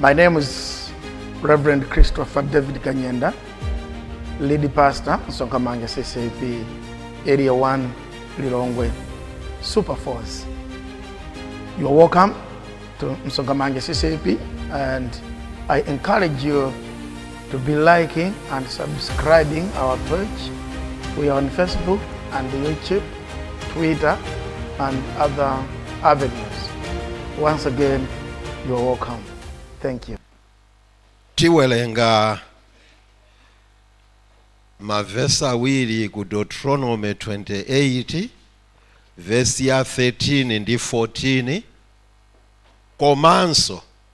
My name is Reverend Christopher David Kanyenda, lead pastor, Sonkamanga CCP, Area 1, Lilongwe, Super Force. You are welcome to Msongamanga CCP and I encourage you to be liking and subscribing our page. We are on Facebook and YouTube, Twitter, and other avenues. Once again, you are welcome. Thank you. tiwerenga mavesi awiri ku deuteronome 28 vesi ya 13 ndi 14 komanso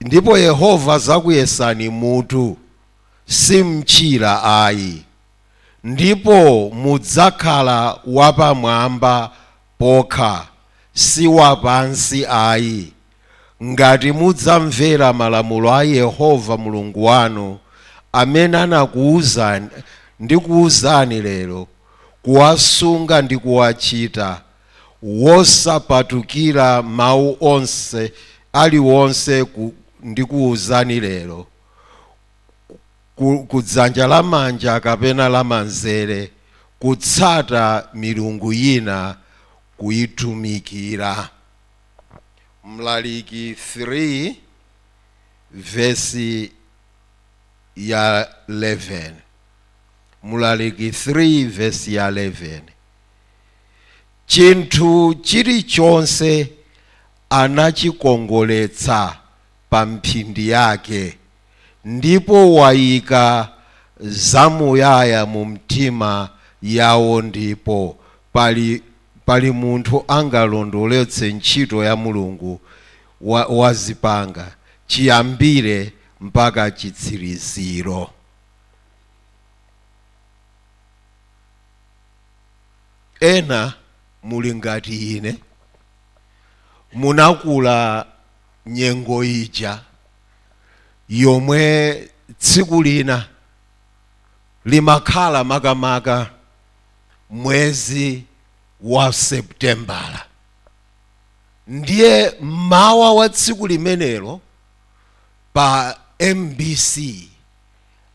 Ndipo Yehova adzakuyesani mutu, si mchira ayi, ndipo mudzakhala wapamwamba pokha, si wapansi ayi, ngati mudzamvera malamulo a Yehova Mulungu wanu, amene anakuuzani, ndikuuzani lero, kuwasunga ndi kuwachita. wosapatukira mawu onse aliwonse ku, ndikuuzani lero ku, ku dzanja lamanja kapena lamanzere kutsata milungu yina kuitumikira mlaliki 3 vesi ya 11 mlaliki 3 vesi ya 11 Chinthu chilichonse anachikongoletsa pa mphindi yake, ndipo waika zamuyaya mu mtima yawo, ndipo pali, pali munthu angalondoletse ntchito ya Mulungu, wa, wazipanga, chiyambire mpaka chitsiriziro? ena muli ngati ine munakula nyengo ija yomwe tsiku lina limakhala makamaka mwezi wa Septembala ndiye mmawa wa tsiku limenelo pa mbc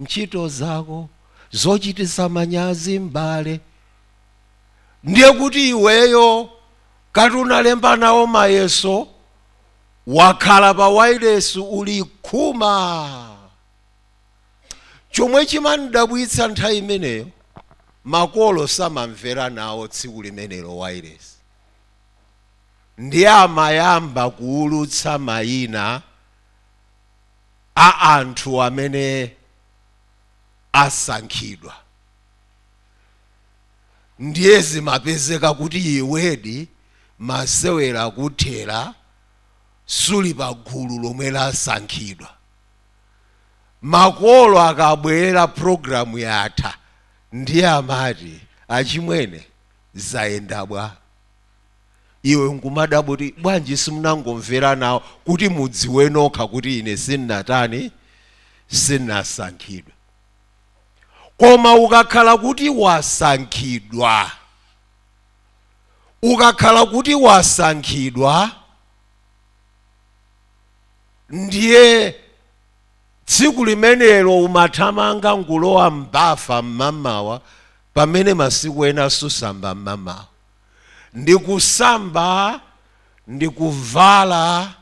ntchito zako zochititsa manyazi m'bale ndiye kuti iweyo ngati unalemba nawo mayeso wakhala pa wailesi uli khuma chomwe chimandidabwitsa nthawi imeneyo makolo samamvera nawo tsiku limenelo wailesi ndiye amayamba kuulutsa mayina a anthu amene asankhidwa ndiye zimapezeka kuti iwedi masewera kuthera suli pa gulu lomwe lasankhidwa makolo akabwera programu yatha ndiye amati achimwene zayenda bwa iwe nkumadabwa kuti bwanji simunangomvera nawo kuti mudziwe nokha kuti ine sinnatani sinnasankhidwa koma ukakhala kuti wasankhidwa ukakhala kuti wasankhidwa ndiye tsiku limenelo umathamanga nkulowa mbafa mmamawa pamene masiku ena susamba mmamawa ndi kusamba ndi kuvala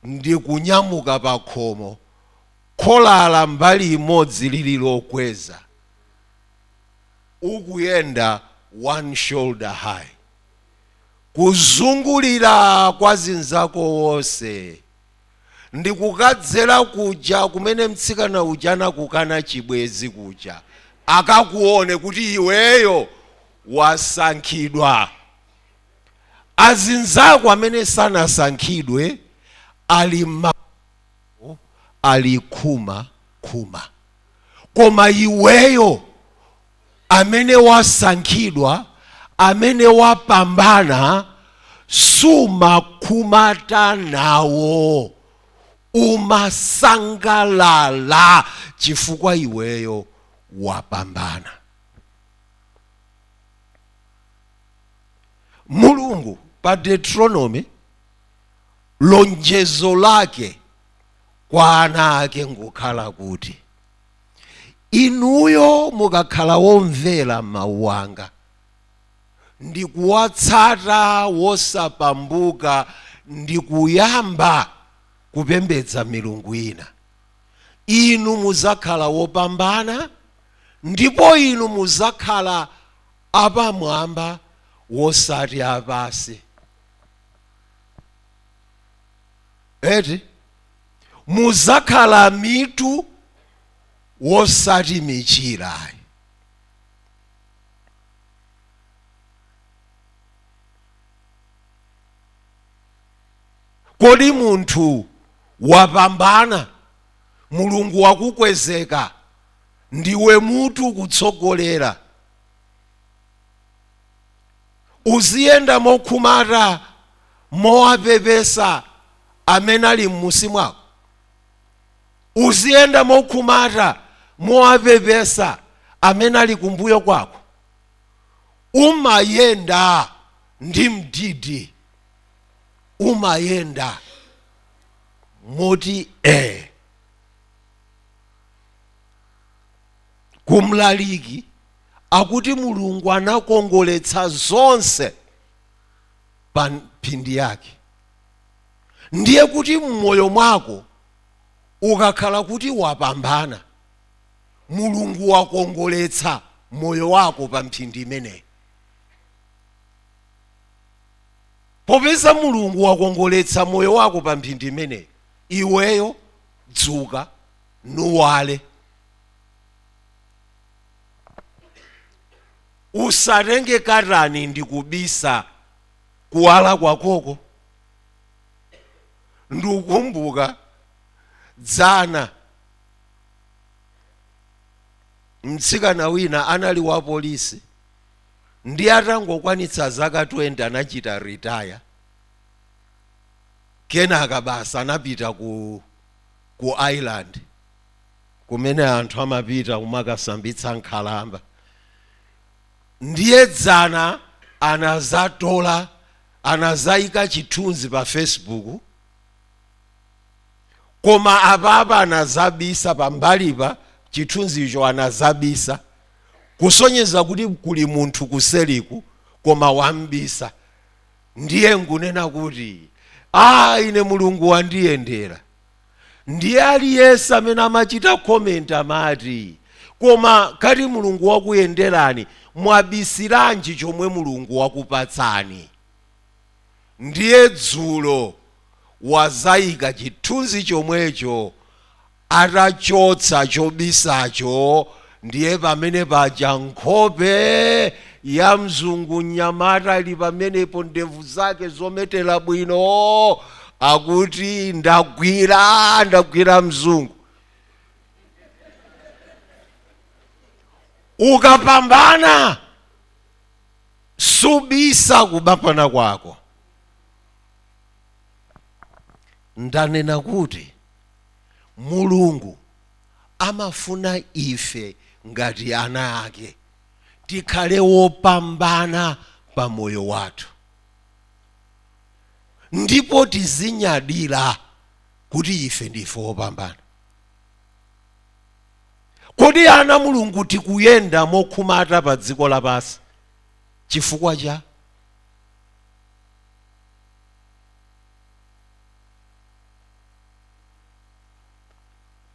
ndi kunyamuka pa khomo, kholala mbali imodzi lili lokweza, ukuyenda one shoulder high, kuzungulira kwa zinzako wonse. ndikukadzera kuja kumene mtsikana uja anakukana chibwenzi kuja akakuone kuti iweyo wasankhidwa azinzako amene sanasankhidwe ali ma ali khuma khuma koma iweyo amene wasankhidwa, amene wapambana, sumakhumata nawo. Umasangalala chifukwa iweyo wapambana. Mulungu pa Deuteronomy lonjezo lake kwa ana ake ngokhala kuti inuyo mukakhala womvera mawu anga ndi kuwatsata wosapambuka ndi kuyamba kupembedza milungu ina inu muzakhala wopambana ndipo inu muzakhala apamwamba wosati apansi eti muzakhala mitu wosati michira ayi kodi munthu wapambana mulungu wakukwezeka ndiwe mutu ukutsogolera Uziyenda mokhumata mowapepesa amene ali m'musi mwako. Uziyenda mokhumata mowapepesa amene ali kumbuyo kwako. Umayenda ndi mdidi. Umayenda moti ee. Kumlaliki. akuti Mulungu anakongoletsa zonse pa mphindi yake. Ndiye kuti m'moyo mwako ukakhala kuti wapambana, Mulungu wakongoletsa moyo wako pa mphindi imeneyi. Popeza Mulungu wakongoletsa moyo wako pa mphindi imeneyi, iweyo dzuka nuwale. usatenge katani ndikubisa kuwala kwakoko ndikukumbuka dzana mtsikana wina anali wa polisi ndi atangokwanitsa zaka 20 anachita retire kenaka basi anapita ku Ireland kumene anthu amapita kumakasambitsa nkhalamba ndiye dzana anazatola anazayika chithunzi pa facebook koma apapa anazabisa pambalipa chithunzicho anazabisa kusonyeza kuti kuli munthu kuseriku koma wambisa ndiye nkunena kuti a ah, ine mulungu wandiyendera Ndiye aliyense amene amachita comment amati koma ngati Mulungu wakuyenderani mwabisiranji chomwe Mulungu wakupatsani? Ndiye dzulo wazaika chithunzi chomwecho atachotsa chobisacho Ndiye pamene paja nkhope ya mzungu mnyamata ali pamenepo, ndevu zake zometera bwino, akuti ndagwira, ndagwira mzungu. Ukapambana usabise kupambana kwako. Ndanena kuti Mulungu amafuna ife ngati ana ake tikhale wopambana pa moyo wathu ndipo tizinyadira kuti ife ndife wopambana kodi ana a mulungu tikuyenda mokhumata pa dziko lapansi chifukwa cha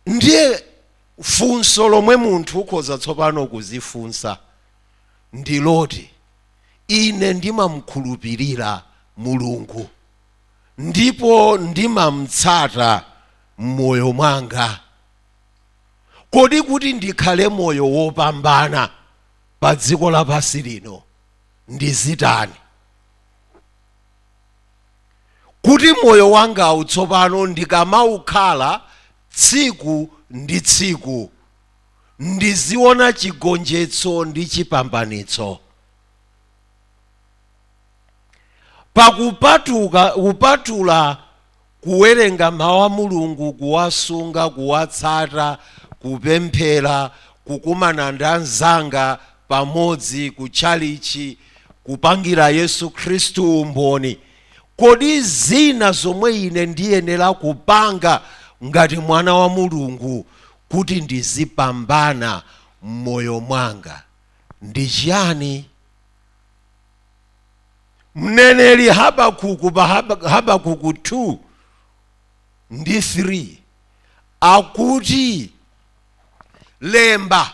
ndiye funso lomwe munthu ukhoza tsopano kuzifunsa ndi loti ine ndimamkhulupirira mulungu ndipo ndimamtsata m'moyo mwanga kodi kuti ndikhale moyo wopambana pa dziko lapansi lino ndizitani kuti moyo wangawu tsopano ndikamaukhala tsiku ndi tsiku, ndiziona chigonjetso ndi chipambanitso. Pa kupatuka, kupatula Kuwerenga Mawu a Mulungu, kuwasunga, kuwatsata, kupemphera, kukumana ndi anzanga pamodzi ku tchalitchi, kupangira Yesu Khristu umboni, kodi zina zomwe ine ndiyenera kupanga ngati mwana wa Mulungu kuti ndizipambana m'moyo mwanga ndi chiyani? mneneri habakuku pa Hab- habakuku 2 ndi 3 akuti lemba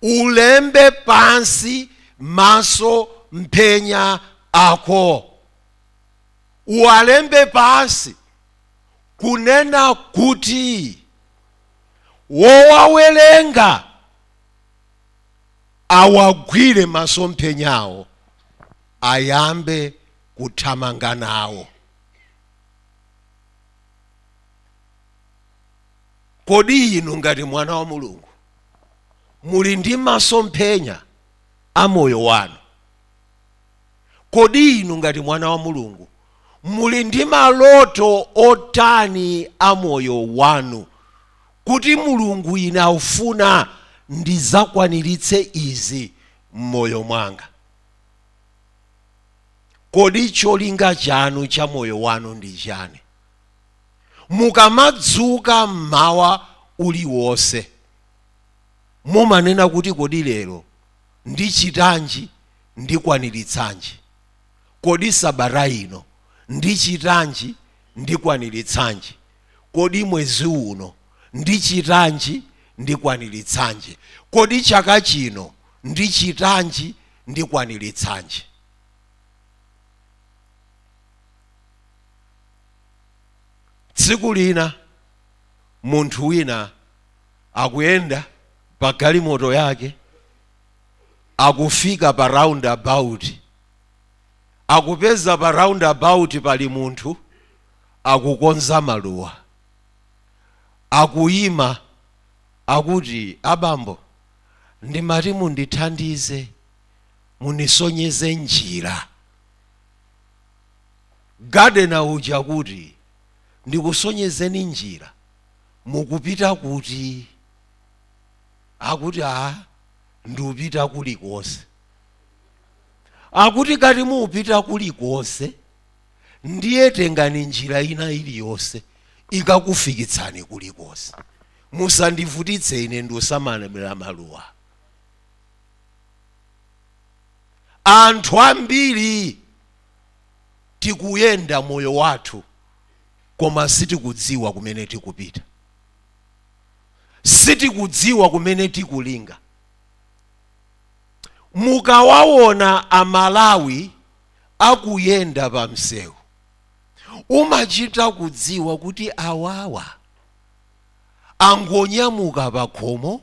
ulembe pansi masomphenya ako uwalembe pansi kunena kuti wowawerenga awagwire masomphenyawo ayambe kuthamanga nawo. Kodi inu ngati mwana wa Mulungu muli ndi masomphenya a moyo wanu? Kodi inu ngati mwana wa Mulungu muli ndi maloto otani a moyo wanu? kuti Mulungu, ine aufuna ndidzakwaniritse izi m'moyo mwanga. Kodi cholinga chanu cha moyo wanu ndi chani? Mukamadzuka m'mawa uliwonse, mumanena kuti kodi lero ndichitanji, ndikwaniritsanji? Kodi sabata ino ndichitanji, ndikwaniritsanji? Kodi mwezi uno ndichitanji, ndikwaniritsanji? Kodi chaka chino ndichitanji, ndikwaniritsanji? Tsiku lina munthu wina akuyenda pa galimoto yake, akufika pa roundabout. Akupeza pa roundabout pali munthu akukonza maluwa. Akuima, akuti, Abambo, ndimati mundithandize, mundisonyeze njira. Gardener uja kuti, Ndikusonyezeni njira? Mukupita kuti? Akuti, Aa, ndupita kulikonse. Akuti, Ngati mupita kulikonse, ndiye tengani njira ina iliyonse ikakufikitsani kulikonse musandivutitse ine ndisamalire maluwa anthu ambiri tikuyenda moyo wathu koma sitikudziwa kumene tikupita sitikudziwa kumene tikulinga mukawawona amalawi akuyenda pa msewu, umachita kudziwa kuti awawa angonyamuka pakhomo,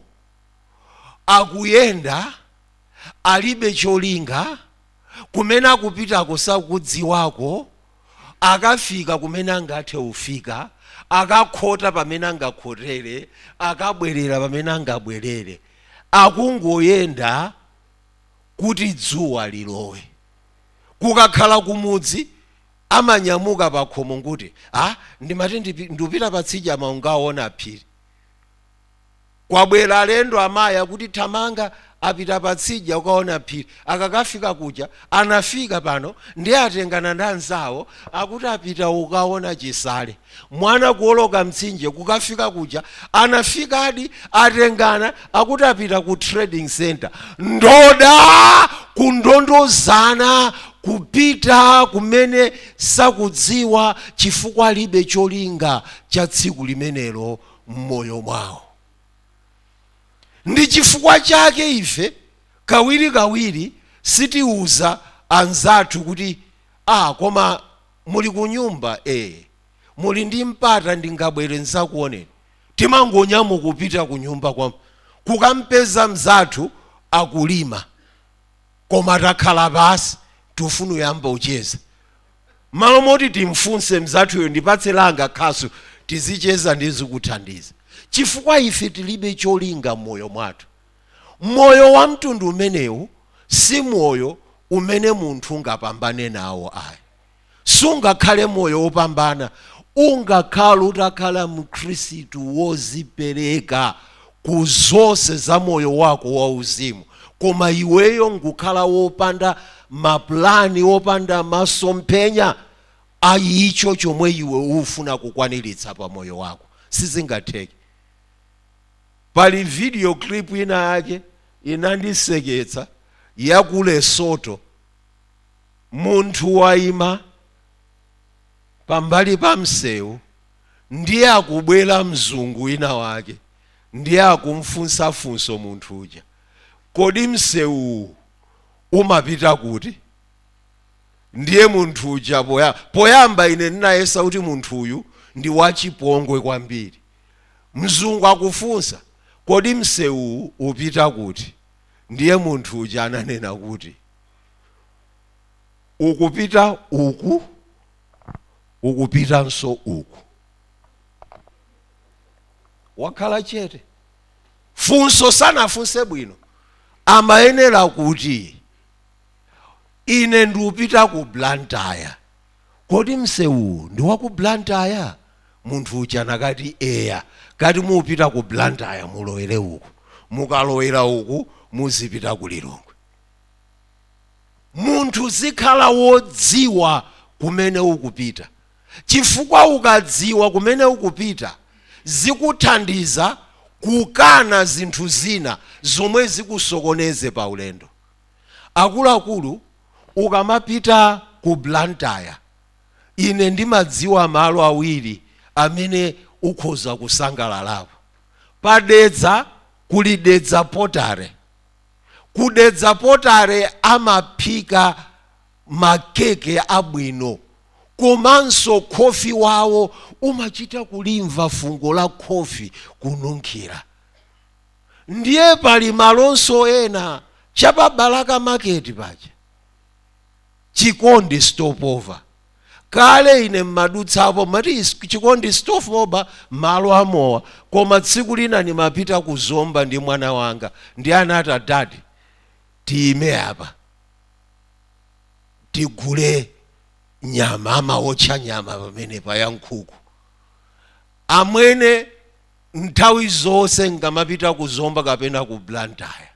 akuyenda alibe cholinga, kumene akupitako sakudziwako, akafika kumene angathe kufika, akakhota pamene angakhotere, akabwerera pamene angabwerere, akungoyenda. kuti dzuwa lilowe. Kukakhala kumudzi amanyamuka pakhomo nkuti, Ha, ndimati ndipi, ndupita patsidya mawa nkaona Phiri. Kwabwera alendo amayi kuti thamanga apita patsidya ukaona Phiri. Akakafika kuja, anafika pano ndiye atengana ndi anzawo akuti apita ukaona Chisale. Mwana kuwoloka mtsinje kukafika kuja anafikadi atengana akuti apita ku trading centre ndoda kundondozana kupita kumene sakudziwa chifukwa alibe cholinga cha tsiku limenelo mmoyo mwawo ndi chifukwa chake ife kawirikawiri sitiuza anzathu kuti ah koma Muli kunyumba ee muli ndi mpata ndingabwere ndzakuoneni. Timangonyamuka kupita kunyumba kwa kukampeza mzathu akulima koma takhala pansi tufuna uyamba ucheza. Mmalo moti timfunse mzathuyo ndipatse langa khasu tizicheza ndizikuthandiza chifukwa ife tilibe cholinga mmoyo mwathu. Moyo wa mtundu umenewu si moyo umene munthu ungapambane nawo ayi. Sungakhale moyo wopambana ungakhale utakhala mkhristu wozipereka ku zonse za moyo wako wa uzimu koma iweyo nkukhala wopanda ma plan, wopanda masomphenya a icho chomwe iwe ufuna kukwaniritsa pa moyo wako. Sizingatheke. Pali video clip ina yake inandiseketsa ya ku Lesotho. Munthu waima pambali pa msewu ndiye akubwera mzungu wina wake ndiye akumfunsa funso munthu uja, kodi msewuwu umapita kuti? Ndiye munthu uja poya, poyamba ine ndinayesa kuti munthu uyu ndi wachipongwe kwambiri. Mzungu akufunsa, Kodi msewuwu upita kuti? Ndiye munthu uja ananena kuti, Ukupita uku, ukupitanso uku. Wakhala chete. Funso sanafunse bwino. Amayenera kuti, Ine ndupita ku Blantyre. kodi msewuwu ndi wa ku Blantyre? Munthu uja akanati, Eya. Kati mupita ku Blantyre mulowere uku. Mukalowera uku muzipita ku Lilongwe. Munthu uzikhala wodziwa kumene ukupita chifukwa ukadziwa kumene ukupita zikuthandiza kukana zinthu zina zomwe zikusokoneze pa ulendo. Akuluakulu ukamapita ku Blantyre ine ndimadziwa malo awiri amene ukhoza kusangalalapo. Pa Dedza kuli Dedza Pottery. Ku Dedza Pottery amaphika ma keke abwino komanso khofi wawo umachita kulimva fungo la khofi kununkhira. Ndiye pali malonso ena cha pa Balaka market paja, Chikondi Stopover. Kale ine mmadutsapo mmati Chikondi Stopover malo a mowa koma tsiku lina ndimapita ku Zomba ndi mwana wanga ndiye anati dadi tiyime apa tigule nyama, amaotcha nyama pamenepa ya nkhuku. Amwene. Nthawi zonse n'kamapita ku Zomba kapena ku Blantyre,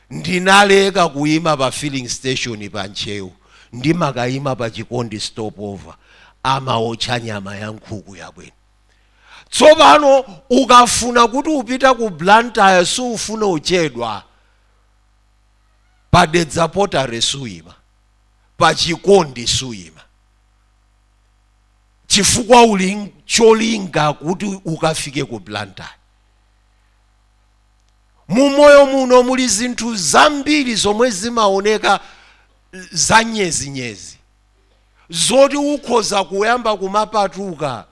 ndinaleka kuima pa filling station pa Ntcheu, ndimakaima pa Chikondi Stopover. Amaotcha nyama ya nkhuku yabwino. Tsopano ukafuna kuti upita ku Blantyre sufuna uchedwa. Pa Dedza Pottery suima, pa Chikondi suima. chifukwa uli ncholinga kuti ukafike ku Blantyre mu moyo muno muli zinthu zambiri zomwe zimaoneka za nyezinyezi zoti ukhoza kuyamba kumapatuka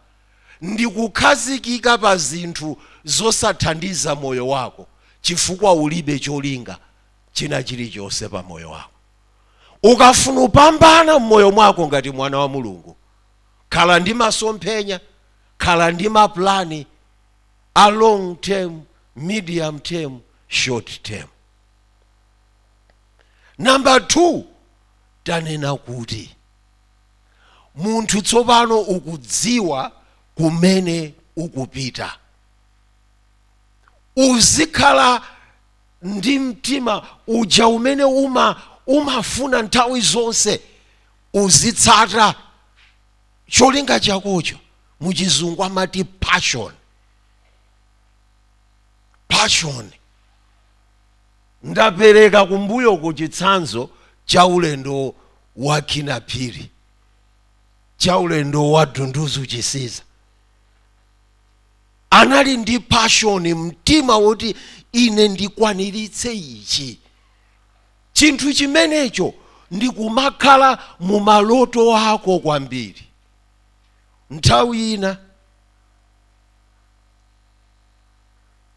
ndi kukhazikika pa zinthu zosathandiza moyo wako chifukwa ulibe cholinga china chilichonse pa moyo wako Ukafuna upambana m'moyo mwako ngati mwana wa Mulungu, khala ndi masomphenya, khala ndi maplani a long term, medium term, short term. Number two, tanena kuti munthu tsopano ukudziwa kumene ukupita, uzikhala ndi mtima uja umene umafuna nthawi zonse uzitsata cholinga chakocho mu chizungu amati passion passion ndapereka kumbuyoku chitsanzo cha ulendo wa Kinnah Phiri cha ulendo wa Dunduzu Chisiza anali ndi passion mtima woti ine ndikwaniritse ichi chinthu chimenecho ndikumakhala mu maloto ako kwambiri nthawi ina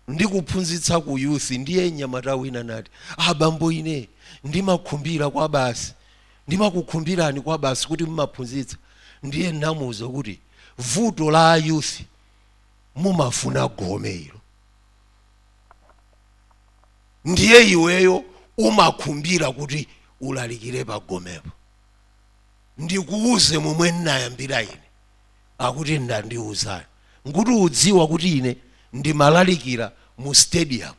ndikuphunzitsa ku youth ndiye mnyamata wina nati abambo ine ndimakhumbira kwabasi ndimakukhumbirani kwabasi kuti mumaphunzitsa ndiye namuuza kuti vuto la a youth mumafuna gome ilo ndiye iweyo umakhumbira kuti ulalikire pa gomepo ndikuuze momwe ndinayambira ine akuti tandiuzani nkuti udziwa kuti ine ndimalalikira mu stadium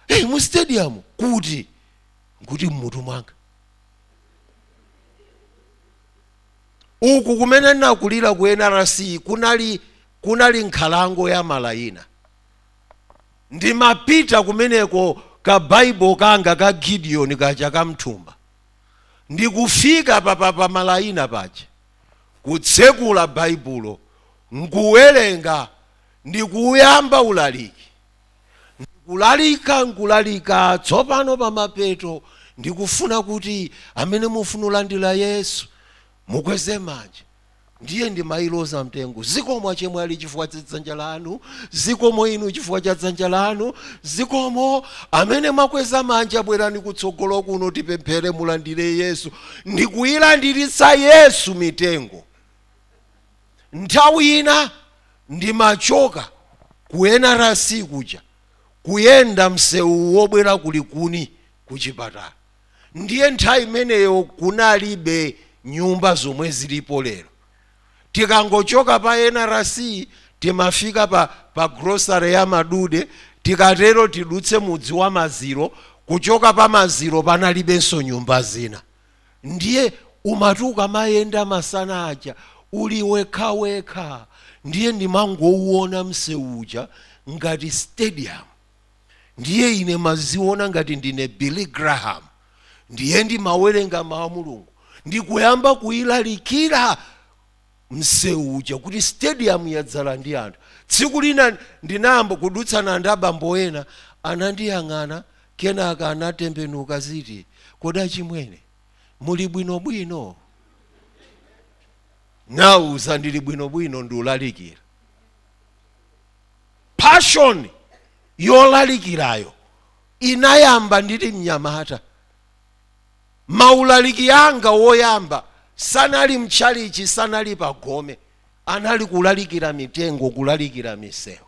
hey, mu stadium kuti nkuti mmutu mwanga uku kumene ndinakulira ku NRC kunali kunali nkhalango ya malayina ndimapita kumeneko ka Bible kanga ka Gideon kaja kamthumba ndikufika pa pa- pa malayina paja kutsekula Baibulo n'kuwerenga ndi kuuyamba ulaliki, ndi kulalika, n'kulalika. Tsopano, pa mapeto, ndikufuna kuti amene mufuna ulandira Yesu, mukweze manja. Ndiye ndimailoza mitengo. Zikomo, achemwali, chifukwa cha dzanja lanu. Zikomo inu chifukwa cha dzanja lanu. Zikomo, amene mwakweza manja, bwerani kutsogolo kuno, tipemphere, mulandire Yesu. ndikuilandiritsa Yesu mitengo. Nthawi ina ndimachoka ku NRC kuja kuyenda msewu wobwera ku Likuni ku chipatala ndiye nthawi imeneyo kunalibe nyumba zomwe zilipo lero. tikangochoka pa NRC timafika pa pa grocery ya Madude tikatero tidutse mudzi wa Maziro kuchoka pa Maziro panalibenso nyumba zina ndiye umati ukamayenda masana aja uli wekhawekha ndiye ndimangouona msewu uja ngati stadium. ndiye ine ndimadziona ngati ndine billy graham ndiye ndimawerenga mawu a mulungu ndikuyamba kuulalikira msewu uja kuti stadium yadzala ndi anthu tsiku lina ndinayamba kudutsana ndi abambo ena anandiyang'ana kenaka anatembenuka ziti kodi achimwene muli bwinobwino ndinawauza ndili bwinobwino ndiulalikira passion yolalikirayo inayamba ndili mnyamata maulaliki anga woyamba sanali mtchalichi sanali pagome anali kulalikira mitengo kulalikira misewu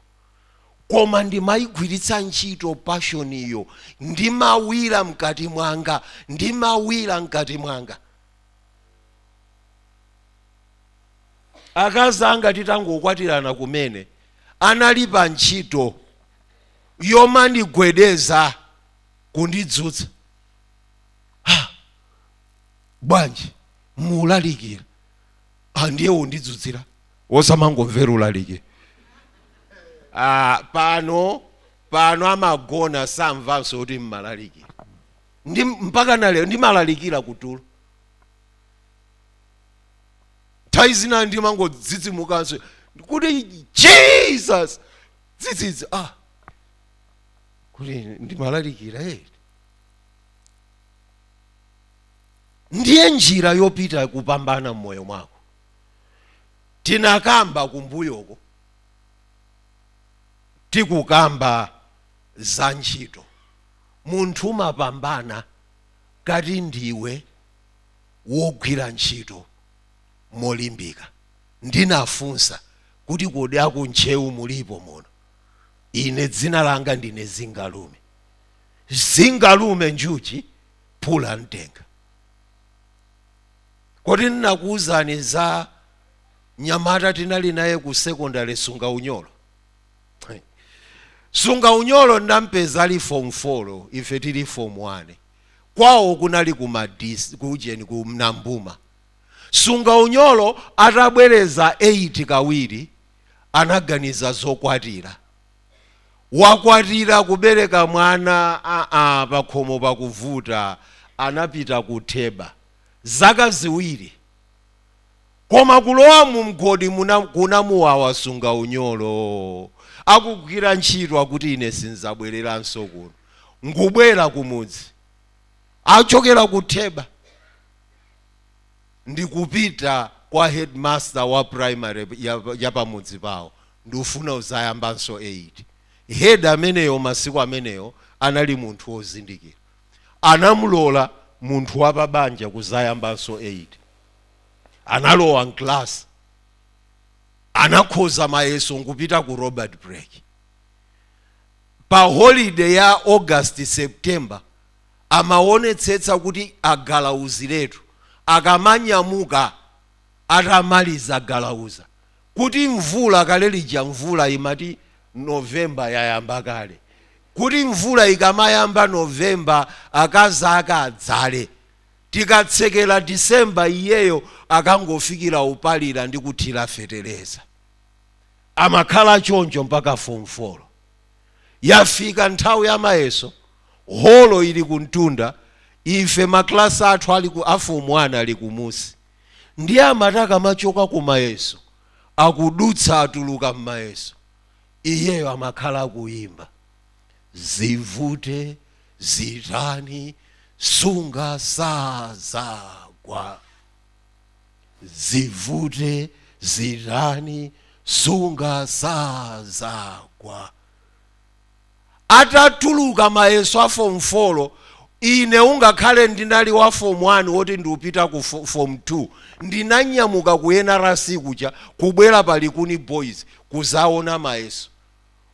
koma ndimayigwiritsa ntchito passion iyo ndimawira mkati mwanga ndimawira mkati mwanga Akazi anga titangokwatirana kumene anali pantchito yomandigwedeza kundidzutsa. Ha! Bwanji? Mulalikira? Ha, ndiye undidzutsira? Osamangomvera ulaliki. Ah, pano pano amagona samvanso kuti ndimalalikira. Mpaka na lero ndimalalikira kutulo. nthawi zina ndimangodzidzimukanso kuti jesus dzidzidzi ah kuti ndimalalikira eti ndiye njira yopita kupambana mmoyo mwako tinakamba kumbuyoko tikukamba za ntchito munthu umapambana ngati ndiwe wogwira ntchito molimbika. Ndinafunsa kuti, Kodi a ku Ntcheu mulipo muno. Ine dzina langa ndine Zingalume. Zingalume, njuchi, phula mtenga. Kodi ndinakuuzani za mnyamata tinali naye ku sekondale, Sunga Unyolo? Sunga Unyolo ndinampeza ali fomu folo, ife tili fomu wane. kwawo kunali ku madisi ku ujeni ku Nambuma sunga unyolo atabwereza 8 kawiri anaganiza zokwatira wakwatira kubereka mwana aa pakhomo pakuvuta anapita ku theba zaka ziwiri koma kulowa mu mgodi kunamuwawa sunga unyolo akugwira ntchito akuti ine sinzabwereranso kuno nkubwera kumudzi achokera ku Theba ndikupita kwa headmaster wa primary ya, ya pamudzi pawo ndufuna uzayambanso 8 head ameneyo masiku ameneyo anali munthu wozindikira anamulola munthu wapabanja kuzayambanso 8 analowa mclass anakhoza mayeso nkupita ku Robert Blake pa holiday ya august september amawonetsetsa kuti agalauziretu akamanyamuka atamaliza galauza kuti mvula kale lija mvula imati November yayamba kale kuti mvula ikamayamba November akazi ake adzale tikatsekera December iyeyo akangofikila upalira ndi kuthira fetereza amakhala choncho mpaka form 4 yafika nthawi ya mayeso holo ili kumtunda ife maklasi athu ali ku afomu 1 ali kumusi ndiye amati akamachoka ku mayeso akudutsa atuluka mmayeso iyeyo amakhala akuyimba zivute zitani sunga sazagwa zivute zitani sunga sazagwa atatuluka mayeso a form 4 ine ungakhale ndinali wa form 1 woti ndiupita ku fo, form 2 ndinanyamuka ku nrc kuja kubwera pa likuni boys kuzaona mayeso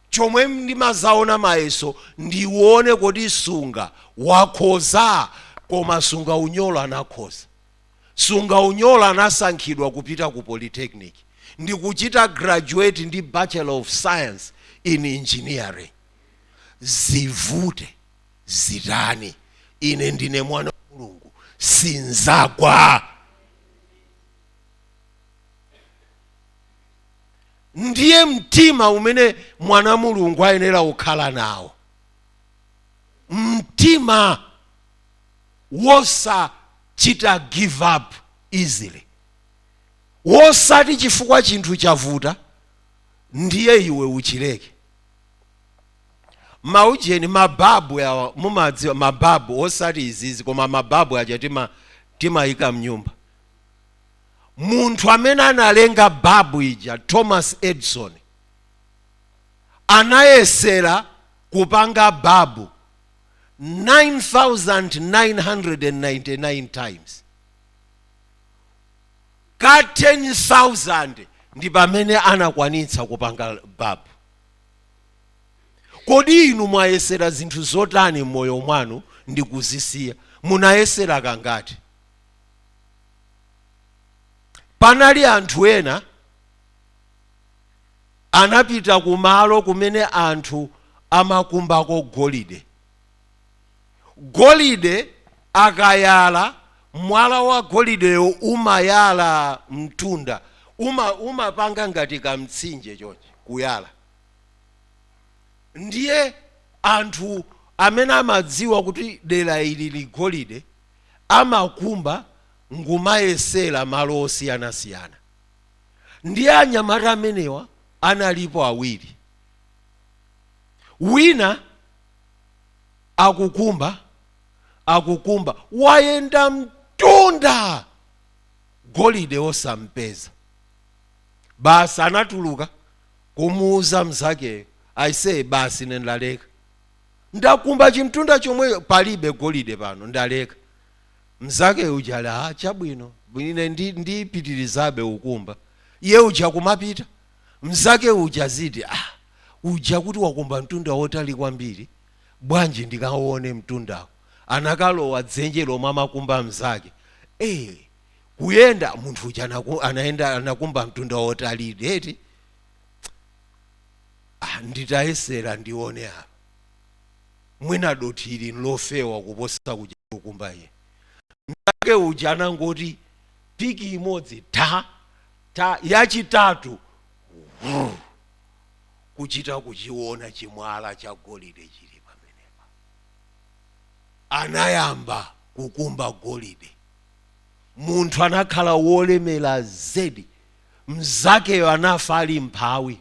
chomwe ndimazaona mayeso ndione kodi sunga wakhoza koma sunga unyolo anakhoza Sungaunyolo anasankhidwa kupita ku polytechnic ndikuchita graduate ndi bachelor of science in engineering zivute zitani ine ndine mwana wa mulungu sinzagwa ndiye mtima umene mwana mulungu ayenera kukhala nawo mtima wosachita give up easily wosati chifukwa chinthu chavuta ndiye iwe uchileke maujeni mababu awa mumadziwa mababu osati izizi koma mababu aja tima timayika mnyumba munthu amene analenga babu ija thomas edison anayesera kupanga babu 9,999 times ka 10,000 ndi pamene anakwanitsa kupanga babu kodi inu mwayesera zinthu zotani m'moyo mwanu ndi kuzisiya munayesera kangati panali anthu ena anapita kumalo kumene anthu amakumbako golide. Golide akayala, mwala wa golideyo umayala mtunda, uma, umapanga ngati kamtsinje chonchi kuyala. Ndiye anthu amene amadziwa kuti dera ili li golide amakumba ngumayesera malo osiyanasiyana. Ndiye anyamata amenewa analipo awiri, wina akukumba akukumba, wayenda mtunda golide osampeza. Basi anatuluka kumuuza mnzakeyo, aise, basi ine ndaleka, ndakumba chimtunda chomwechi, palibe golide pano, ndaleka. Mzake uja ali ah, chabwino ine ndi ndipitirizabe ukumba. Iye uja kumapita. Mzake uja aziti ah, uja kuti wakumba mtunda wotali kwambiri. Bwanji ndikaone mtundawo. Anakalowa dzenje lomwe amakumba mzake. Eh, kuyenda munthu uja anaku, anayenda anakumba mtunda wotali eti. Ah, nditayesera ndione apa. mwina dothi ili n'lofewa kuposa kuja akukumba iye. Mnzake uja anangoti piki imodzi tha! tha! yachitatu wrrr! kuchita kuchiona chimwala chagolide chili pamenepa. Anayamba kukumba golide. Munthu anakhala wolemera zedi. Mnzakeyo anafa ali mmphawi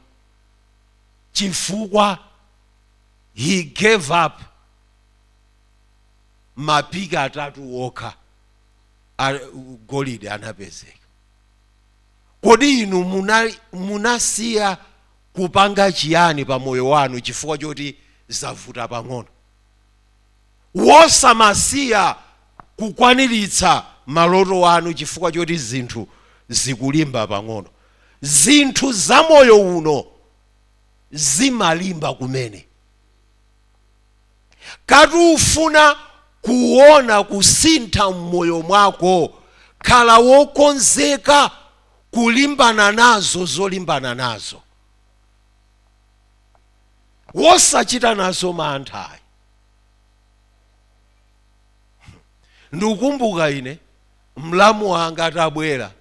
chifukwa. he gave up mapiki atatu okha golide anapezeka kodi inu muna- munasiya kupanga chiyani pa moyo wanu chifukwa choti zavuta pang'ono osamasiya kukwaniritsa maloto anu chifukwa choti zinthu zikulimba pang'ono zinthu za moyo uno zimalimba kumene ngati ufuna kuona kusintha mmoyo mwako khala wokonzeka kulimbana nazo zolimbana nazo osachita nazo mantha ayi ndikukumbuka ine mlamu wanga atabwera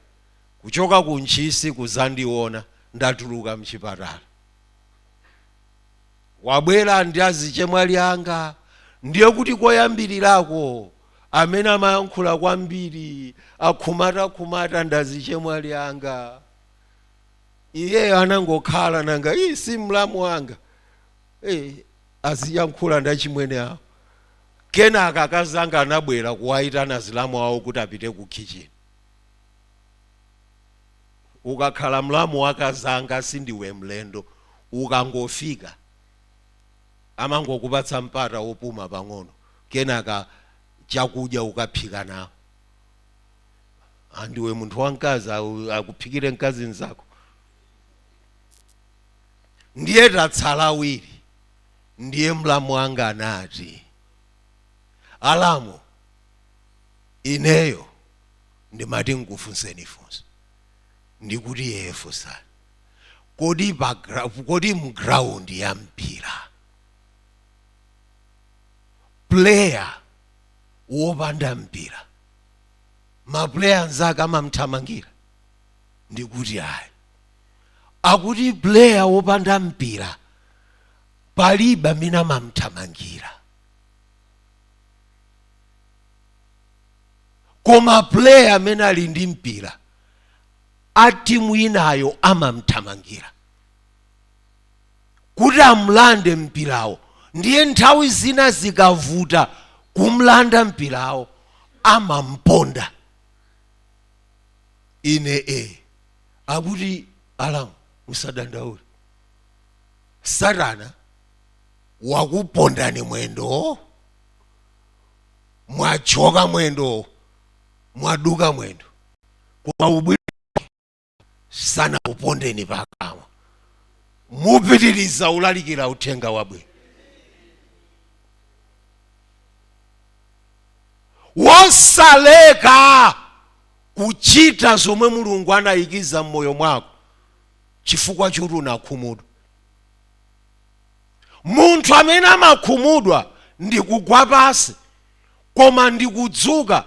kuchoka ku Ntchisi kudzandiona ndatuluka m'chipatala. Wabwera ndi azichemwali anga, ndiye kuti koyambirirako amene amayankhula kwambiri, akhumatakhumata ndi azichemwali anga. Iyeyo anangokhala nanga ii si mlamu wanga eh, aziyankhula ndi achimwene awo. Kenaka akazi anga anabwera kuwayitana alamu awo kuti apite ku khitchini. ukakhala mlamu wa akazanga sindiwe mlendo ukangofika amangokupatsa mpata wopuma pang'ono kenaka chakudya ukaphika nawo ah, ndiwe munthu wamkazi au- akuphikire mkazi mzako ndiye tatsala awiri ndiye mlamu wanga anati alamu ineyo ndimati nkufunseni funso ndikuti ee funsani kodi pa gra- kodi mu ground ya mpira player wopanda mpira maplayer anzake amamthamangira ndikuti ayi akuti player wopanda mpira palibe amene amamthamangira koma player amene ali ndi mpira a timu inayo amamthamangira kuti amlande mpirawo ndiye nthawi zina zikavuta kumlanda mpirawo amamponda ine akuti alamu musadandaule satana wakupondani mwendo mwathyoka mwendo mwaduka mwendo koma ubwino sanakupondeni pakamwa mupitiriza kulalikira uthenga wabwino wosaleka kuchita zomwe mulungu anayikiza m'moyo mwako chifukwa choti unakhumudwa Munthu amene amakhumudwa ndi kugwa pansi koma ndi kudzuka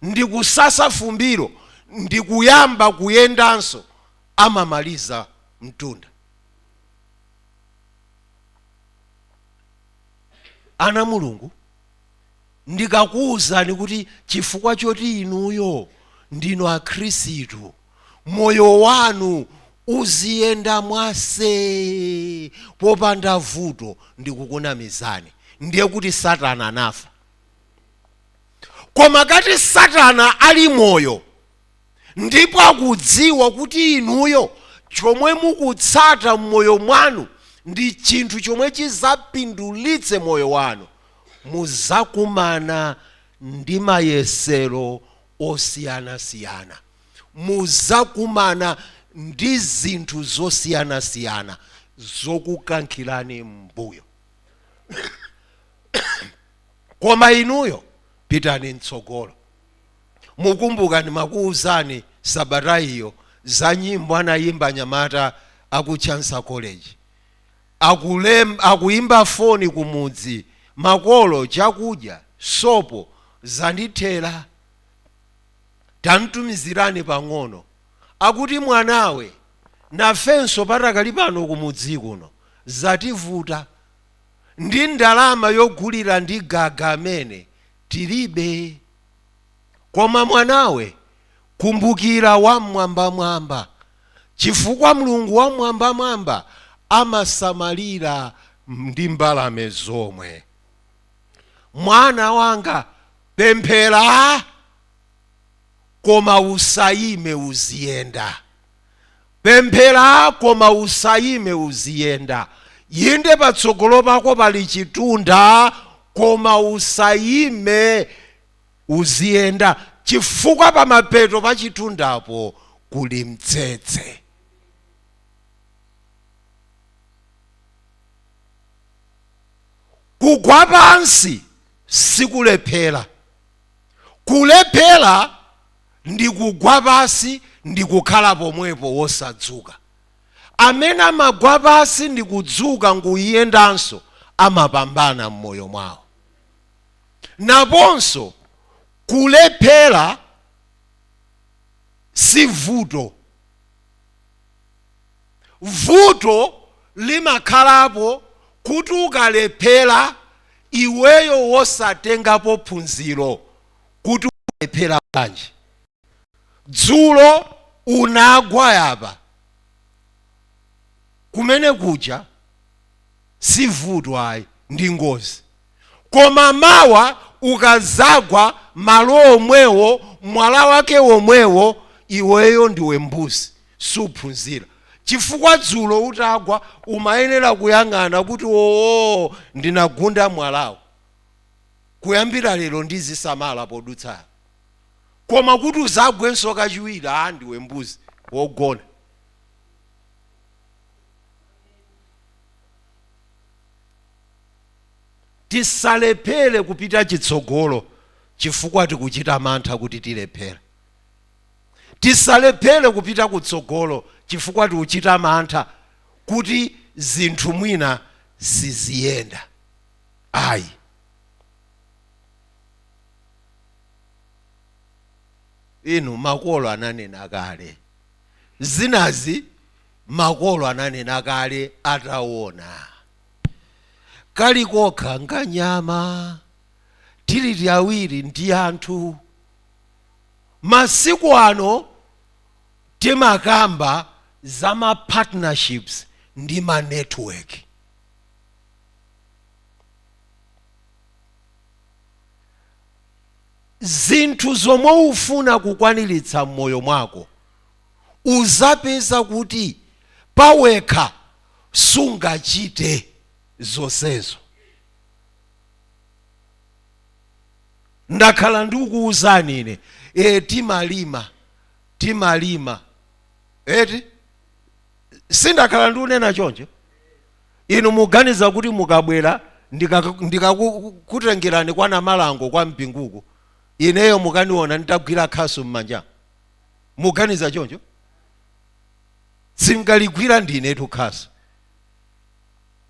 ndi kusasa fumbilo ndi kuyamba kuyendanso amamaliza mtunda. Ana a Mulungu. ndikakuuzani kuti chifukwa choti inuyo ndinu akhristu moyo wanu uziyenda mwa see popanda vuto ndikukunamizani ndiye kuti satana anafa koma ngati satana ali moyo ndipo akudziwa kuti inuyo chomwe mukutsata mmoyo mwanu ndi chinthu chomwe chizapindulitse moyo wanu, muzakumana ndi mayesero osiyana siyana, muzakumana ndi zinthu zosiyana siyana zokukankhirani mmbuyo koma inuyo pitani mtsogolo. Mukumbuka ndimakuuzani sabata iyo za nyimbo anayimba anyamata aku Chancellor College? Akulem, akuyimba foni kumudzi, Makolo, chakudya, sopo, zandithera. Tanditumizirani pang'ono. Akuti, Mwanawe, nafenso patakali pano kumudzi kuno zativuta. Ndi ndalama yogulira ndi gaga amene tilibe. Koma mwanawe, kumbukira Wam'mwambamwamba, chifukwa Mulungu Wam'mwambamwamba amasamalira ndi mbalame zomwe. Mwana wanga, pemphera, koma usayime, uziyenda. Pemphera koma usayime uziyenda. Inde patsogolo pako pali chitunda koma usayime uziyenda chifukwa pamapeto pa chitundapo kuli mtsetse. Kugwa pansi sikulephera Kulephera ndi kugwa pansi ndi kukhala pomwepo wosadzuka. Amene amagwa pansi ndi kudzuka n'kuyendanso amapambana m'moyo mwawo. Naponso kulephera si vuto. vuto limakhalapo kuti ukalephera iweyo wosatengapo phunziro kuti walephera bwanji dzulo unagwa apa kumene kuja sivuto ayi ndi ngozi koma mawa ukazagwa malo omwewo mwala wake womwewo iweyo ndiwe mbuzi suphunzira chifukwa dzulo utagwa umayenera kuyang'ana kuti oo ndinagunda mwalawo kuyambira lero ndizisamala podutsa koma kuti uzagwenso kachiwiri aa ndiwe mbuzi wogona Tisalephere kupita chitsogolo chifukwa tikuchita mantha kuti tilephera. Tisalephere kupita kutsogolo chifukwa tikuchita mantha kuti zinthu mwina siziyenda ayi. Inu makolo ananena kale zinazi, makolo ananena kale atawona. Kali kokha nkanyama, tili tiwiri ndi anthu. Masiku ano timakamba za ma partnerships ndi ma network. Zinthu zomwe ufuna kukwaniritsa mmoyo mwako uzapeza kuti pawekha sungachite zonsezo ndakhala ndikuwuzani ine e, timalima timalima eti sindakhala ndikunena choncho inu muganiza kuti mukabwera ndikakutengerani kwa Namalango kwa Mpingu uku ineyo mukaniona nditagwira khasu m'manja muganiza choncho singaligwira ndinetu khasu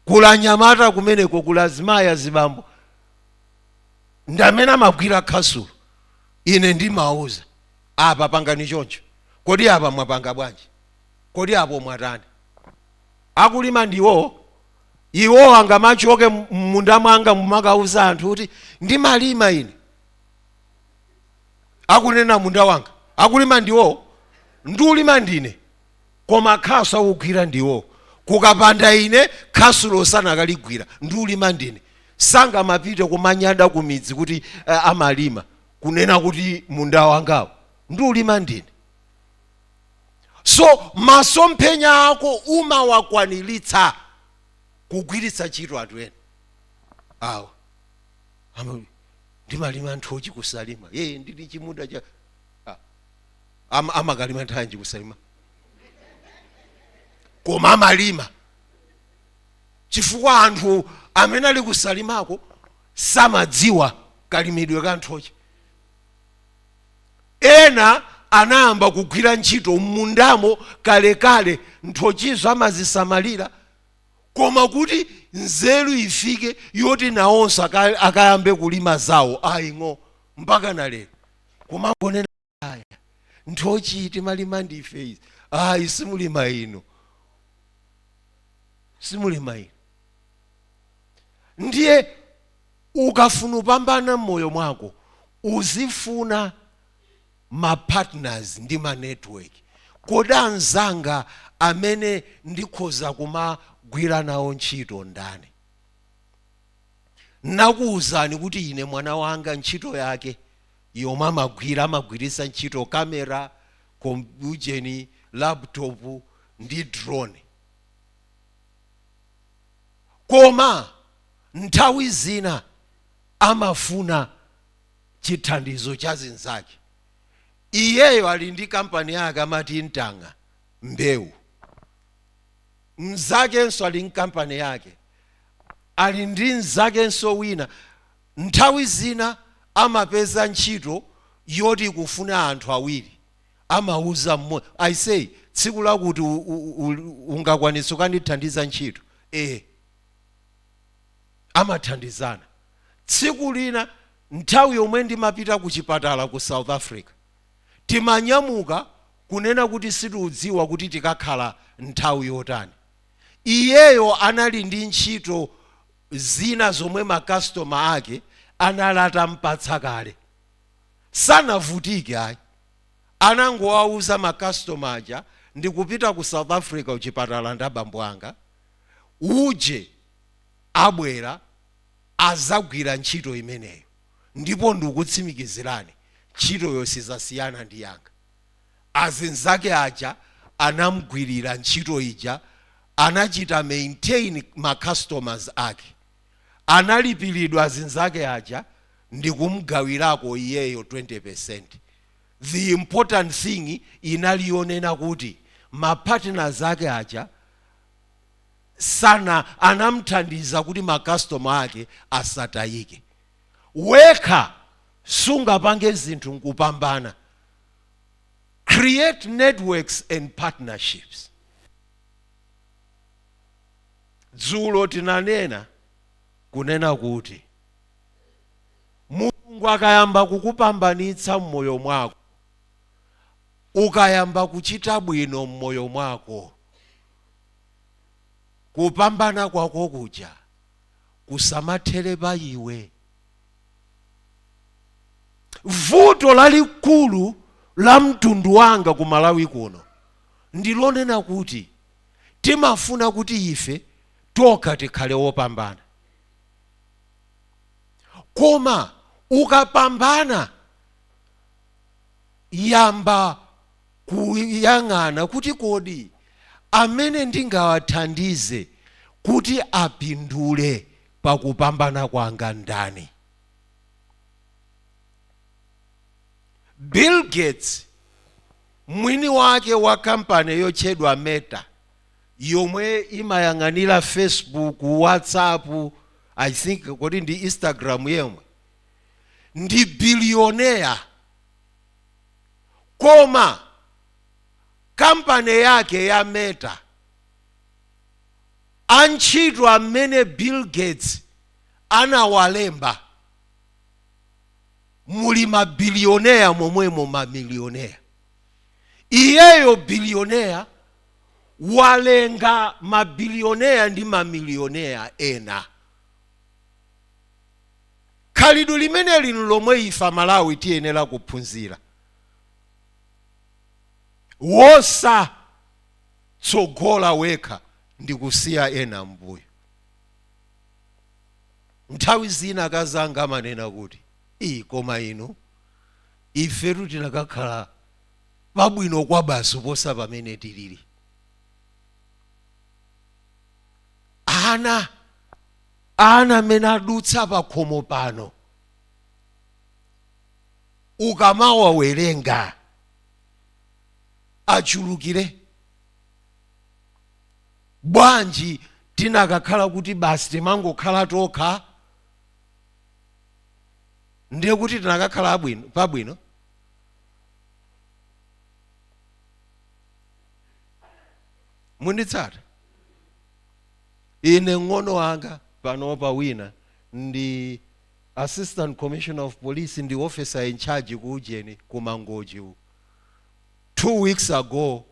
kuli anyamata kumeneko kuli azimayi azibambo ndamene amagwira khasulo ine ndimawuza apa pangani choncho kodi apa mwapanga bwanji kodi apo mwatani akulima ndiwowo iwo angamachoke mmunda mwanga mumakauza anthu kuti ndimalima ine akunena munda wanga akulima ndiwo ndulima ndine koma khasu akugwira ndiwo kukapanda ine khasulo sanakaligwira ndulima ndine sangamapite kumanyada kumidzi kuti uh, amalima kunena kuti munda wangawo ndulima ndine so masomphenya ako umawakwaniritsa kugwiritsa ntchito anthu ena awa Ama- ndimalima nthochi kusalima ee ndili chimunda cha ah. Ama, amakalima nthanji kusalima koma amalima chifukwa anthu amene ali kusalimako samadziwa kalimidwe ka nthochi ena anayamba kugwira ntchito m'mundamo kalekale nthochizo amazisamalira koma kuti nzeru ifike yoti nawonso aka- akayambe kulima zawo ayi ng'o mpaka na lero kumangonena aya nthochi timalima ndife izi ayi simulima inu simulima inu ndiye ukafuna upambana mmoyo mwako uzifuna ma partners ndi ma network? Kodi anzanga amene ndikhoza kumagwira nawo ntchito ndani? Nnakuuzani kuti ine mwana wanga ntchito yake yomwe amagwira amagwiritsa ntchito camera, kom, ujeni, laptop ndi drone. Koma nthawi zina amafuna chithandizo cha mnzake. Iyeyo ali ndi kampani yake amati Ntang'a Mbewu, mnzakenso ali ndi kampani yake, ali ndi mnzakenso wina. Nthawi zina amapeza ntchito yoti ikufuna anthu awiri, amauza mmodzi, aisey, tsiku lakuti ungakwanitse kukandithandiza ntchito? Ee. amathandizana. Tsiku lina nthawi yomwe ndimapita ku chipatala ku South Africa, timanyamuka kunena kuti sitiudziwa kuti tikakhala nthawi yotani. Iyeyo anali ndi ntchito zina zomwe ma customer ake anali atampatsa kale. Sanavutike ayi, anangowauza ma customer aja, ndikupita ku South Africa kuchipatala ndi abambo anga, uje. abwera azagwira ntchito imeneyo ndipo ndikutsimikizirani ntchitoyo sizasiyana ndi yanga. Azinzake aja anamgwirira ntchito ija anachita maintain ma customers ake. Analipiridwa azinzake aja ndikumgawirako iyeyo 20%. The important thing inali yonena kuti ma partners ake aja. Satna anamthandiza kuti ma customer ake asatayike. Wekha sungapange zinthu nkupambana. Create networks and partnerships. Dzulo tinanena kunena kuti Mulungu akayamba kukupambanitsa mmoyo mwako, ukayamba kuchita bwino mmoyo mwako, kupambana kwako kuja kusamathere pa iwe. Vuto lalikulu la mtundu wanga ku Malawi kuno ndi lonena kuti timafuna kuti ife tokha tikhale wopambana. Koma ukapambana yamba kuyang'ana kuti kodi amene ndingawathandize kuti apindule pa kupambana kwanga ndani. Bill Gates, mwini wake wa kampani yotchedwa Meta, yomwe imayang'anira Facebook, WhatsApp, I think kodi ndi Instagram yomwe, ndi billionaire. koma kampani yake ya meta antchito amene bill gates anawalemba muli mabilioneya momwemo mamilioneya iyeyo bilioneya walenga mabilioneya ndi mamilioneya ena Khalidwe limeneli n'lomwe ife Amalawi tiyenera kuphunzira. Wosatsogola wekha ndi kusiya ena m'mbuyo. Nthawi zina akazi anga amanena kuti, Iii koma inu, ifetu tinakakhala pabwino kwabasi kuposa pamene tilili. Ana. ana amene adutsa pakhomo pano ukamawawerenga achulukire bwanji tinakakhala kuti basi timangokhala tokha ndiye kuti tinakakhala pabwino munditsata ine ng'ono wanga panopa wina ndi assistant commissioner of police ndi officer in charge ku ujeni ku mangochi uku two weeks ago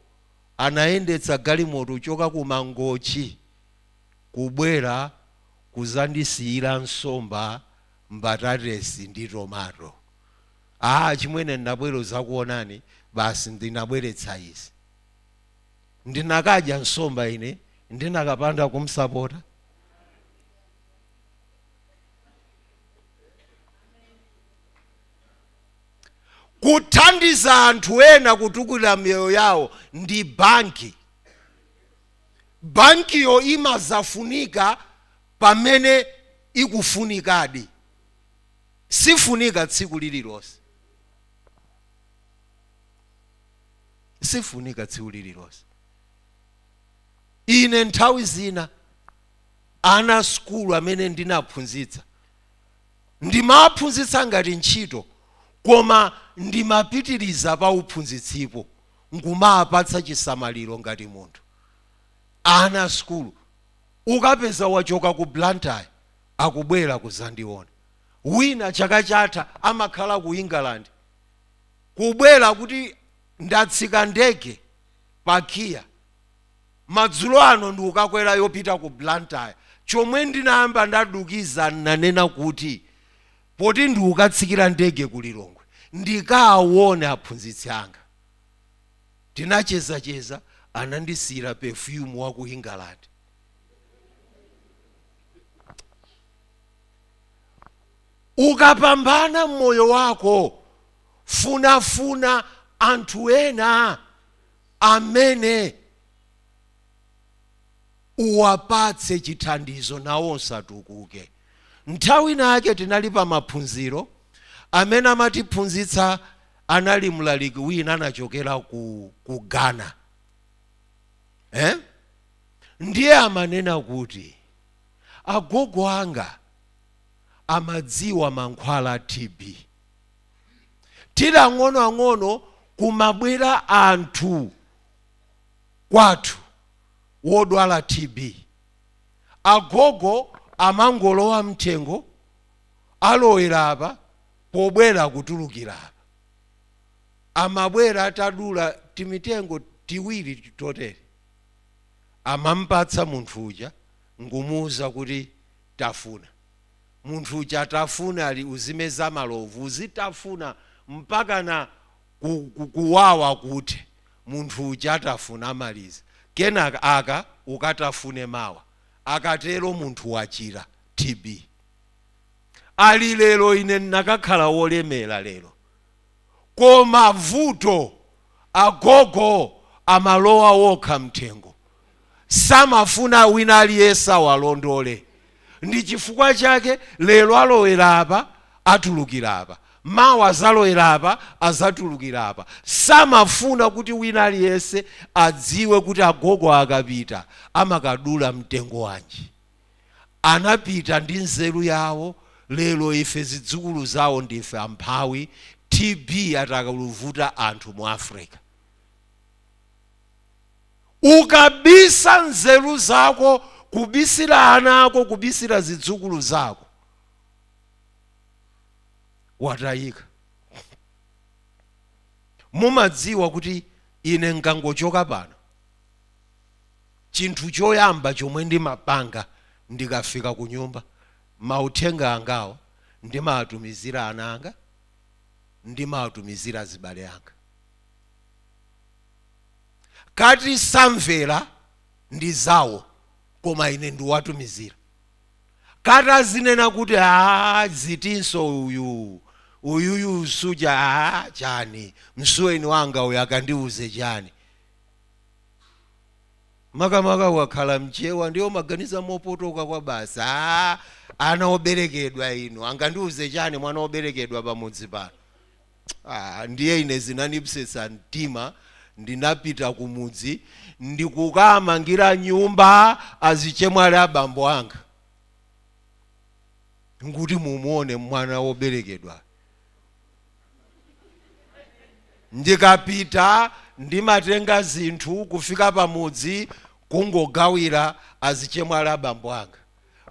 anayendetsa galimoto kuchoka ku mangochi kubwera kuzandisiyira nsomba mbatatesi ndi tomato achimwene ndinabwera kudzakuonani basi ndinabweretsa izi ndinakadya nsomba ine ndinakapanda kumsapota kuthandiza anthu ena kutukula miyoyo yawo ndi banki bankiyo imadzafunika pamene ikufunikadi sifunika tsiku lililonse sifunika tsiku lililonse ine nthawi zina ana a sukulu amene ndinaphunzitsa ndimaphunzitsa ngati ntchito koma ndimapitiriza pa uphunzitsipo nkumawapatsa chisamaliro ngati munthu ana a sukulu ukapeza wachoka ku blantyre akubwera kuzandiona wina chaka chatha amakhala ku england kubwera kuti ndatsika ndege pa kia madzulo ano ndikukakwera yopita ku blantyre chomwecho ndinayamba ndadukiza nanena kuti poti ndikukatsikira ndege ku lilongwe ndikaawone aphunzitsi anga tinachezacheza anandisiyira perfume wa ku england Ukapambana m'moyo wako, funafuna anthu ena amene uwapatse chithandizo nawonso atukuke. Nthawi ina yake tinali pa maphunziro, amene amatiphunzitsa anali mlaliki wina anachokera ku, ku Ghana eh? Ndiye amanena kuti agogo anga amadziwa mankhwala a TB. Tili ang'onoang'ono kumabwera anthu kwathu wodwala TB. Agogo amangolowa m'thengo, alowera apa, pobwera akutulukira apa. Amabwera atadula timitengo tiwiri totere. Amamupatsa munthu uja n'kumuuza kuti, Tafuna. Munthu uja atafuna ali uzimeza malovu, uzitafuna mpakana ku, ku, kuwawa kuthe. Munthu uja atafuna amaliza. Kenaka aka ukatafune mawa. Akatero munthu wachira TB. Ali lero ine ndinakakhala wolemera lero. koma vuto agogo amalowa okha mthengo samafuna wina aliyense awalondole ndichifukwa chake lero alowera apa atulukira apa mawa azalowera apa azatulukira apa samafuna kuti wina aliyense adziwe kuti agogo akapita amakadula mtengo wanji. anapita ndi nzeru yawo lero ife zidzukulu zawo ndife amphawi TB ikuvuta anthu mu Africa. Ukabisa nzeru zako kubisira ana ako kubisira zidzukulu zako watayika. Mumadziwa kuti ine nkangochoka pano Chinthu choyamba chomwe ndimapanga ndikafika kunyumba, mauthenga angawo ndimawatumizira ana anga, ndimawatumizira azibale anga. Kaya samvera ndi zawo koma ine ndiwatumizira. Kaya azinena kuti aah zitinso izi uyu, uyuyu suja aah chani, msuweni wanga uyu akandiuze chani. makamaka ukakhala mchewa ndiye umaganiza mopotoka kwabasi aa ana oberekedwa inu angandiuze chani mwana oberekedwa pamudzi pano ah, ndiye ine zinandipsetsa mtima ndinapita kumudzi ndikukamangira nyumba azichemwali abambo anga nkuti mumuone mwana woberekedwa Ndikapita ndimatenga zinthu kufika pamudzi kungogawira azichemwali abambo anga.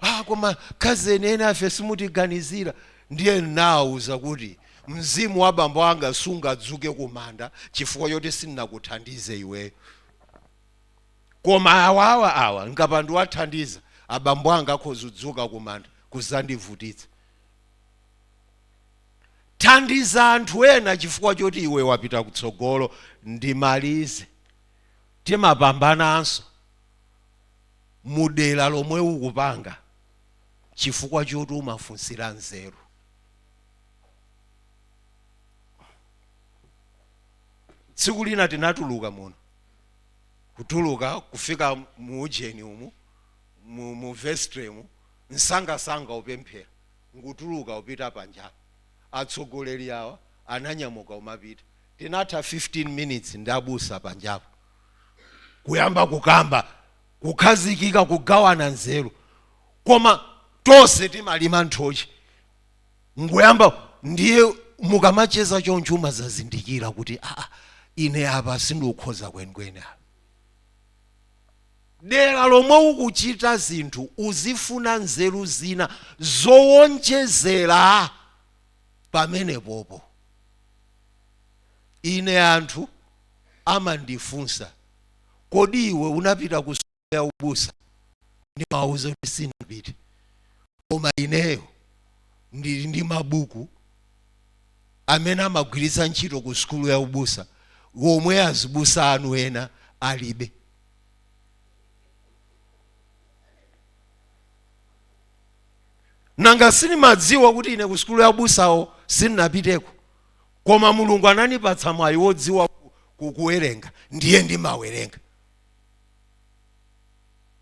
Ah koma ma cousin enafe simutiganizira. Ndiye ndinawauza kuti mzimu wa bambo anga sungadzuke kumanda chifukwa choti sindinakuthandize iweyo. Koma awawa awa nkapanda kuwathandiza abambo anga akhoza kudzuka kumanda kuzandivutitsa. thandiza anthu ena chifukwa choti iwe wapita kutsogolo ndimalize timapambananso mu dera lomwe ukupanga chifukwa choti umafunsira nzeru tsiku lina tinatuluka muno kutuluka kufika mu ujeni umu mu, mu vestry mu msangamsanga kupemphera nkutuluka kupita panjapo atsogoleri awa ananyamuka kumapita tinatha 15 minutes ndi abusa panjapo kuyamba kukamba kukhazikika kugawana nzeru koma tonse timalima nthochi nkuyamba ndiye mukamacheza choncho umazazindikira kuti aa ine apa sindikukhoza kwenikweni apa dera lomwe ukuchita zinthu uzifuna nzeru zina zowonjezera pamenepopo. Ine anthu amandifunsa, kodi iwe unapita ku sukulu ya ubusa? Ndimawauza kuti sindinapite. koma ineyo ndili ndi mabuku amene amagwiritsa ntchito ku sukulu ya ubusa omwe azibusa anu ena alibe nanga sindimadziwa kuti ine ku sukulu ya ubusawo sindinapiteko koma mulungu ananipatsa mwayi wodziwa ku- ku- kuwerenga ndiye ndimawerenga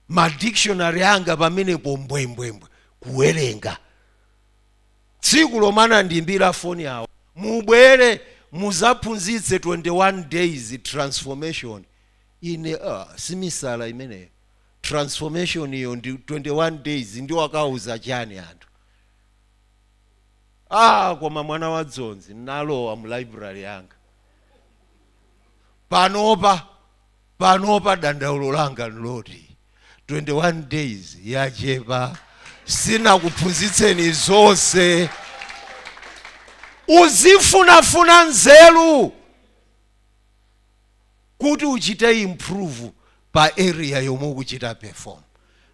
ma dictionary anga pamenepo mbwembwembwe kuwerenga tsiku lomwe anandiimbira foni awo mubwere muzaphunzitse 21 days transformation ine uh, si misala imeneyo transformation iyo ndi 21 days ndikawauza chani anthu ah koma mwana wa dzonzi nalowa mu library yanga panopa Panopa dandaulo langa ndi loti 21 days yachepa sinakuphunzitseni zonse. Uzifunafuna nzeru kuti uchite improve pa area yomwe ukuchita perform.